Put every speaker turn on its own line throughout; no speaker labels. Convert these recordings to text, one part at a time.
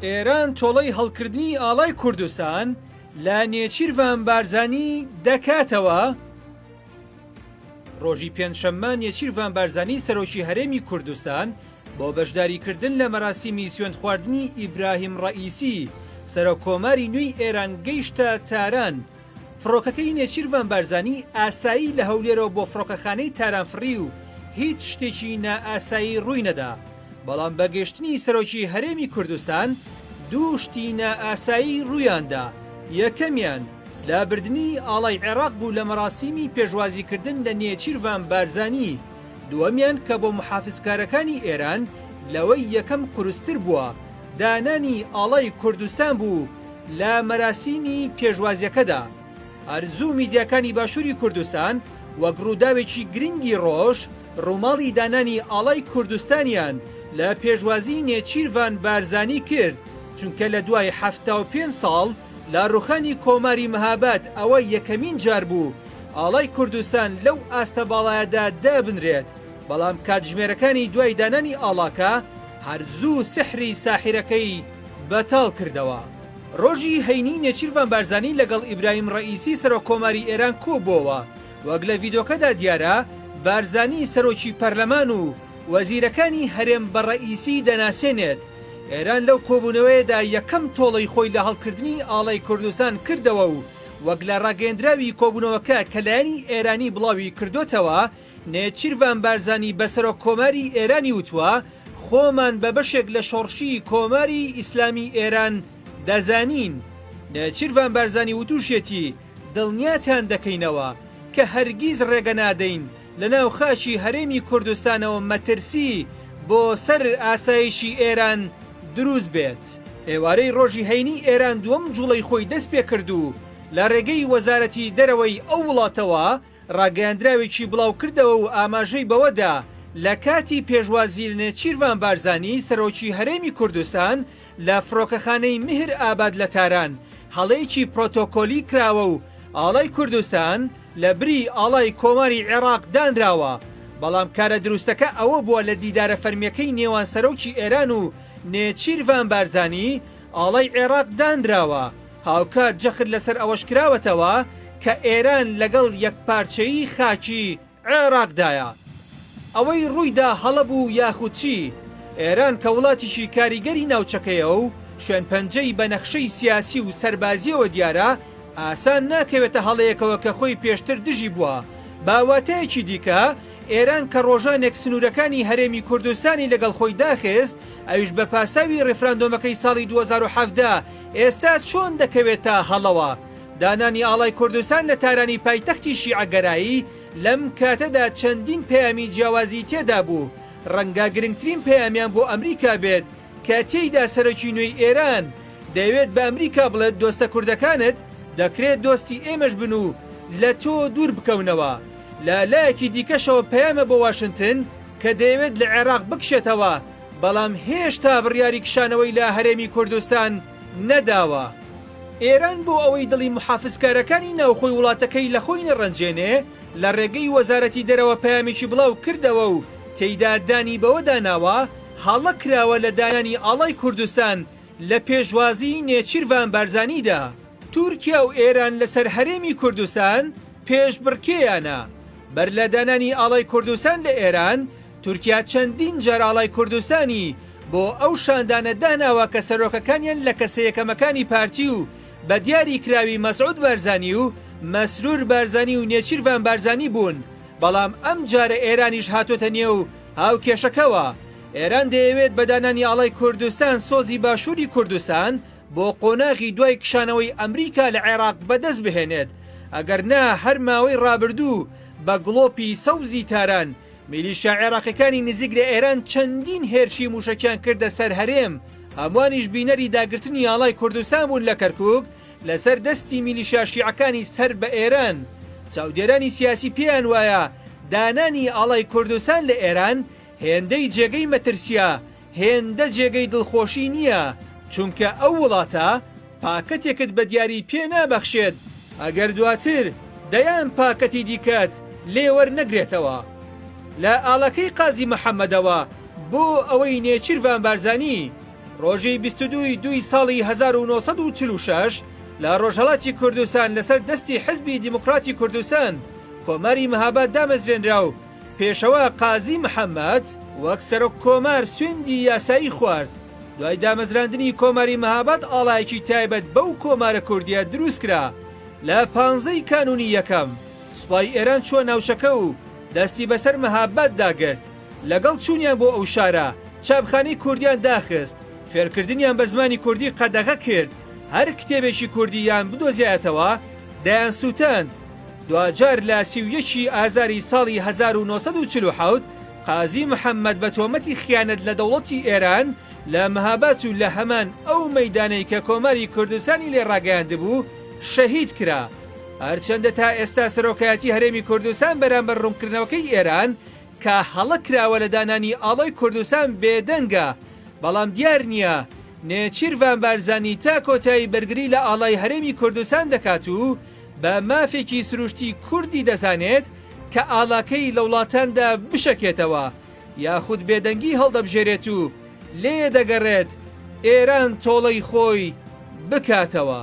ئێران تۆڵەی هەڵکردنی ئاڵای کوردستان لە نێچیرڤان بارزانی دەکاتەوە؟ ڕۆژی پێنجشەممە نێچیرڤان بارزانی سەرۆکی هەرێمی کوردستان بۆ بەشداریکردن لە مەراسیمی سوێند خواردنی ئیبراهیم ڕەئیسی سەرۆک کۆماری نوێی ئێران گەیشتە تاران فڕۆکەکەی نێچیرڤان بارزانی ئاسایی لە هەولێرەوە بۆ فڕۆکەخانەی تاران فڕی و هیچ شتێکی نائاسایی ڕووی نەدا، بەڵام بە گەشتنی سەرۆکی هەرێمی کوردستان دوو شتی نائاسایی ڕوویاندا، یەکەمیان لابردنی ئاڵای عێراق بوو لە مەراسیمی پێشوازیکردن لە نێچیرڤان بارزانی، دووەمیان کە بۆ موحافزکارەکانی ئێران لەوەی یەکەم قورستر بووە، دانانی ئاڵای کوردستان بوو، لە مەراسیمی پێشوازیەکەدا، ئارزوو میدیاکانی باشووری کوردستان وەک ڕووداوێکی گرنگی ڕۆژ، ڕووماڵی دانانی ئاڵای کوردستانیان لە پێشوازی نێچیرڤان بارزانی کرد، چونکە لە دوای حەفتا و پێنج ساڵ لە ڕووخانی کۆماری مهاباد ئەوە یەکەمین جار بوو ئاڵای کوردستان لەو ئاستە باڵایەدا دابنرێت، بەڵام کاتژمێرەکانی دوای دانانی ئاڵاکە هەر زوو سحری ساحیرەکەی بەتاڵ کردەوە. ڕۆژی هەینی نێچیرڤان بارزانی لەگەڵ ئیبراهیم ڕەئیسی سەرۆک کۆماری ئێران کۆبووەوە. وەک لە ڤیدۆکەدا دیارە بارزانی سەرۆکی پەرلەمان و وەزیرەکانی هەرێم بە ڕەئیسی دەناسێنێت. ئێران لەو کۆبوونەوەیەدا یەکەم تۆڵەی خۆی لە هەڵکردنی ئاڵای کوردستان کردەوە و وەک لە ڕاگەیەندراوی کۆبوونەوەکە کە لایەنی ئێرانی بڵاوی کردۆتەوە، نێچیرڤان بارزانی بە سەرۆک کۆماری ئێرانی وتوە، خۆمان بە بەشێک لە شۆڕشی کۆماری ئیسلامی ئێران دەزانین. نێچیرڤان بارزانی وتوشیەتی، دڵنیاتان دەکەینەوە کە هەرگیز ڕێگە نادەین لە ناو خاکی هەرێمی کوردستانەوە مەترسی بۆ سەر ئاسایشی ئێران دروست بێت. ئێوارەی ڕۆژی هەینی ئێران دووەم جوڵەی خۆی دەست پێکرد و لە ڕێگەی وەزارەتی دەرەوەی ئەو وڵاتەوە، ڕاگەیاندراوێکی بڵاوکردەوە و ئاماژەی بەوەدا، لە کاتی پێشوازی لە نێچیرڤان بارزانی سەرۆکی هەرێمی کوردستان لە فڕۆکەخانەی میهر ئاباد لە تاران، هەڵەیەکی پرۆتۆکۆلی کراوە و ئاڵای کوردستان لە بری ئاڵای کۆماری عێراق دانراوە، بەڵام کارە دروستەکە ئەوە بووە لە دیدارە فەرمییەکەی نێوان سەرۆکی ئێران و نێچیرڤان بارزانی ئاڵای عێراق دانراوە. هاوکات جەخت لەسەر ئەوەش کراوەتەوە کە ئێران لەگەڵ یەکپارچەیی خاکی عێراقدایە. ئەوەی ڕوویدا هەڵە بوو یاخود چی، ئێران کە وڵاتیکی کاریگەری ناوچەکەیە و شوێنپەنجەی بە نەخشەی سیاسی و سەربازییەوە دیارە، ئاسان ناکەوێتە هەڵەیەکەوە کە خۆی پێشتر دژی بووە. بە واتایەکی دیکە، ئێران کە ڕۆژانێک سنوورەکانی هەرێمی کوردستانی لەگەڵ خۆی داخست، ئەویش بە پاساوی ڕیفراندۆمەکەی ساڵی دوو هەزار و حەڤدە، ئێستا چۆن دەکەوێتە هەڵەوە؟ دانانی ئاڵای کوردستان لە تارانی پایتەختی شیعەگەرایی لەم کاتەدا چەندین پەیامی جیاوازی تێدا بوو، ڕەنگە گرنگترین پەیامیان بۆ ئەمریکا بێت کە تێیدا سەرۆکی نوێی ئێران دەیەوێت بە ئەمریکا بڵێت دۆستە کوردەکانت دەکرێت دۆستی ئێمەش بن و لە تۆ دوور بکەونەوە. لە لایەکی دیکەشەوە پەیامە بۆ واشنتن کە دەیەوێت لە عێراق بکشێتەوە بەڵام هێشتا بڕیاری کشانەوەی لە هەرێمی کوردستان نەداوە. ئێران بۆ ئەوەی دڵی موحافزکارەکانی ناوخۆی وڵاتەکەی لە خۆی نەڕەنجێنێ، لە ڕێگەی وەزارەتی دەرەوە پەیامێکی بڵاو کردەوە و تێیدا دانی بەوەدا ناوە هەڵە کراوە لە دانانی ئاڵای کوردستان لە پێشوازیی نێچیرڤان بارزانیدا. تورکیا و ئێران لەسەر هەرێمی کوردستان پێشبڕکێیانە. بەر لە دانانی ئاڵای کوردستان لە ئێران، تورکیا چەندین جار ئاڵای کوردستانی بۆ ئەو شاندانە داناوە کە سەرۆکەکانیان لە کەسە یەکەمەکانی پارتی و بە دیاری کراوی مەسعود بارزانی و مەسرور بارزانی و نێچیرڤان بارزانی بوون بەڵام ئەمجارە ئێرانیش هاتۆتە نێو هاوکێشەکەوە ئێران دەیەوێت بە دانانی ئاڵای کوردستان سۆزی باشووری کوردستان بۆ قۆناغی دوای کشانەوەی ئەمریکا لە عێراق بەدەست بهێنێت ئەگەر نا هەر ماوەی ڕابردوو بە گڵۆپی سەوزی تاران میلیشیا عێراقیەکانی نزیک لە ئێران چەندین هێرشی مووشەکیان کردە سەر هەرێم، هەموانیش بینەری داگرتنی ئاڵای کوردستان بوون لە کەرکوک لەسەر دەستی میلیشیا شیعەکانی سەر بە ئێران. چاودێرانی سیاسی پێیان وایە دانانی ئاڵای کوردستان لە ئێران هێندەی جێگەی مەترسییە هێندە جێگەی دڵخۆشی نییە، چونکە ئەو وڵاتە پاکەتێکت بە دیاری پێ نابەخشێت ئەگەر دواتر دەیان پاکەتی دیکەت لێ وەرنەگرێتەوە. لە ئاڵەکەی قازی محەممەدەوە بۆ ئەوەی نێچیرڤان بارزانی ڕۆژی بیست و دوو ی دووی ساڵی هەزار و نۆ سەد و چل و شەش لە ڕۆژهەڵاتی کوردستان لەسەر دەستی حیزبی دیموکراتی کوردستان کۆماری مهاباد دامەزرێنرا و پێشەوا قازی محەمەد وەک سەرۆک کۆمار سوێندی یاسایی خوارد. دوای دامەزراندنی کۆماری مهاباد ئاڵایەکی تایبەت بەو کۆمارە کوردیە دروست کرا. لە پانزە ی کانونی یەکەم، سوپای ئێران چوە ناوچەکە و دەستی بەسەر مهاباد دا گرت. لەگەڵ چونیان بۆ ئەو شارە، چاپخانەی کوردیان داخست، فێرکردنیان بە زمانی کوردی قەدەغە کرد، هەر کتێبێکی کوردی یان بدۆزیایەتەوە دەیانسوتاند. دواجار لە سی و یەک ی ئازاری ساڵی هەزار و نۆ سەد و چل و حەوت قازی محەممەد بە تۆمەتی خیانەت لە دەوڵەتی ئێران لە مهاباد و لە هەمان ئەو مەیدانەی کە کۆماری کوردستانی لێ ڕاگەیاندبوو شەهید کرا. هەرچەندە تا ئێستا سەرۆکایەتی هەرێمی کوردستان بەرامبەر ڕوونکردنەوەکەی ئێران کە هەڵە کراوە لە دانانی ئاڵای کوردستان بێدەنگە، بەڵام دیار نییە نێچیرڤان بارزانی تا کۆتایی بەرگری لە ئاڵای هەرێمی کوردستان دەکات و، بە مافێکی سروشتی کوردی دەزانێت کە ئاڵاکەی لە وڵاتاندا بشەکێتەوە یاخود بێدەنگی هەڵدەبژێرێت و لێ دەگەڕێت ئێران تۆڵەی خۆی بکاتەوە.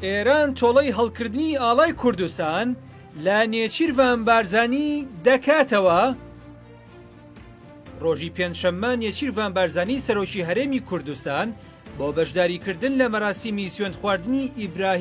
ئێران تۆڵەی هەڵکردنی ئاڵای کوردستان لە نێچیرڤان بارزانی دەکاتەوە؟ ڕۆژی پێنجشەممە نێچیرڤان بارزانی سەرۆکی هەرێمی کوردستان بۆ بەشداریکردن لە مەراسیمی سوێندخواردنی ئیبراهیم